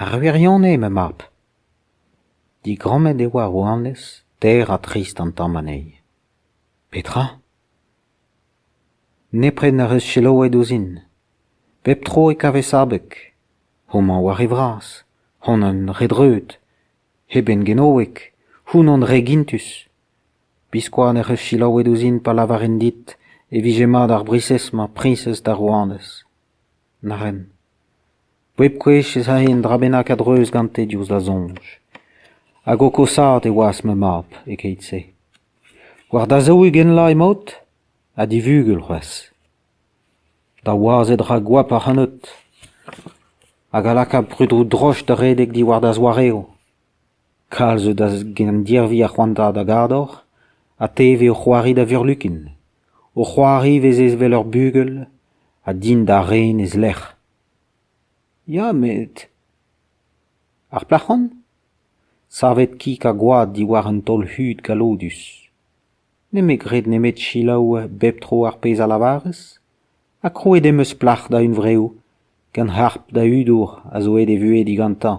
Ar wirionez, ma mab. Digrammet e oa rouanez teir ha trist an tamm anezhi. Petra ? Nepred n'ec'h eus selaouet ouzhin. Bep tro e kavez abeg. Homañ oa re vras, honan re dreut, eben genoek, hounan re gintus. Biskoazh n'ec'h eus selaouet ouzhin pa lavarin dit e vije mat ar briñsez-mañ priñsez da rouanez. Na ren. Bep gwech ez ae un dra bennak a-dreuz gante diouzh da soñj. Hag o koshaat e oas ma mab e-keit-se. War da zaou-ugent laz emaout ? Ha divugel c'hoazh. Da wazed ra goap ac'hanot. Hag a laka prudoù droch da redek diwar da zoareoù. Kalz zo da gendirvi ar c'hoantaat a gador ha te e vez o c'hoari da vurlukin. O c'hoari ivez evel ur bugel ha din da ren e-lec'h. Ya met... ar plac'h on ? Savet kig ha gwad diwar un taol-hud galloudus. Nemet graet nemet selaou bep tro ar pezh a lavarez ha krouet em eus plac'h da hunvreoù gant harp da hudour a zo aet e vuhez digantañ.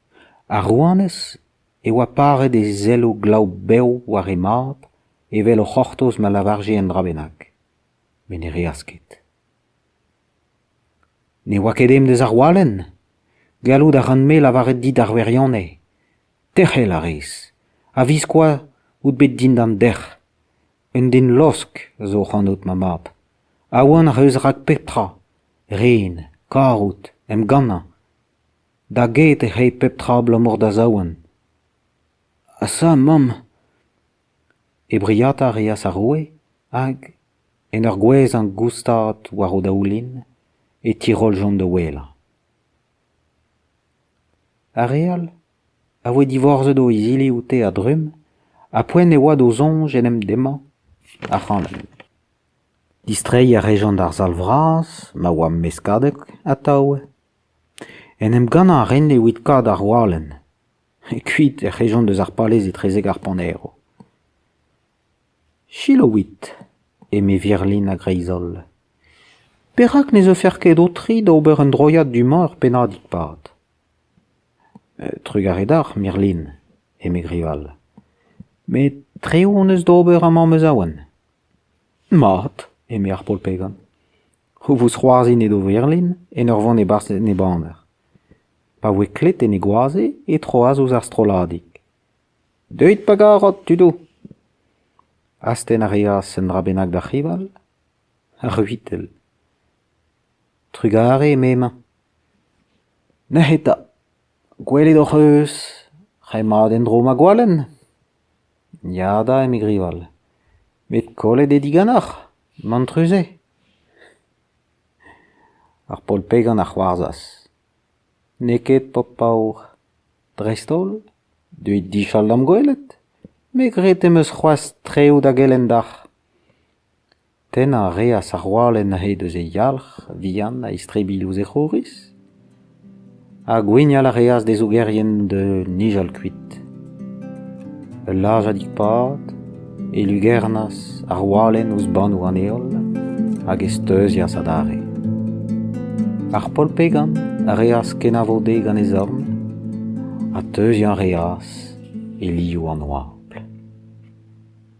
Ar rouanez e oa paret he zelloù glav bev war he mab evel o c'hortoz ma lavarje un dra bennak. Met ne reas ket. Ne oa ket emdez ar walenn ? Gallout a ran-me lavaret dit ar wirionez. Tec'hel a rez, a-viskoazh out bet dindan dec'h. Un den losk a zo ac'hanout, ma mab. Aon ac'h eus rak pep tra : ren, karout, emgannañ. Da get e c'hell pep tra abalamour da zaouarn. Ha sa mamm, he briata a reas ar roue hag, en ur gouezhañ goustad war o daoulin, e tiroljont da ouelañ. Ar re all a voe divorzet o izili oute a-drumm ha poent e oa d'o soñj en em demmañ ac'hanon. Distreiñ a rejont d'ar sal vras ma oa meskadek atav. En em gannañ a rin evit kaout ar walenn. Kuit ec'h ejont eus ar palez etrezek ar panero. Selaouit, eme Virlin a-greiz-holl, perak ne zeufec'h ket ho-tri da ober un droiad du-mañ ur pennadig-pad ? Trugarez deoc'h, Mirlin, eme Grival. Met tre hon eus d'ober amañ ma zaouarn. Mat, eme ar paotr-pegan. o vouez c'hoarzhin edo Verlin en ur vont e-barzh en e baner. Pa voe klet en e goaze e troas ouzh ar strolladig. Deuit pa garot, tudoù ! Astenn a reas un dra bennak d'ar c'hival Ar c'huitell. Trugare m'emañ. Nec'h eta. Gwelet hoc'h eus ret mat en-dro ma gwalenn ? Ya da, eme Grival, met kollet eo diganeoc'h, mantrus eo ? Ar paol-pegan a c'hoarzhas : N'eo ket ho paour. Dreist-holl, deuit difall d'am gwelet, me 'gred em eus c'hoazh treoù da gelenn deoc'h. Tennañ a reas ar walenn aet eus e yalc'h vihan a-istrebilh ouzh e c'houriz ha gwennal a reas d'e zougerien da nijal kuit. Ul lazhadig-pad e lugernas ar walenn ouzh bannoù an heol hag e steuzias adarre. Ar polpegan a reas kenavo dezhe gant e zorn ha teuziañ a reas e liv an oabl.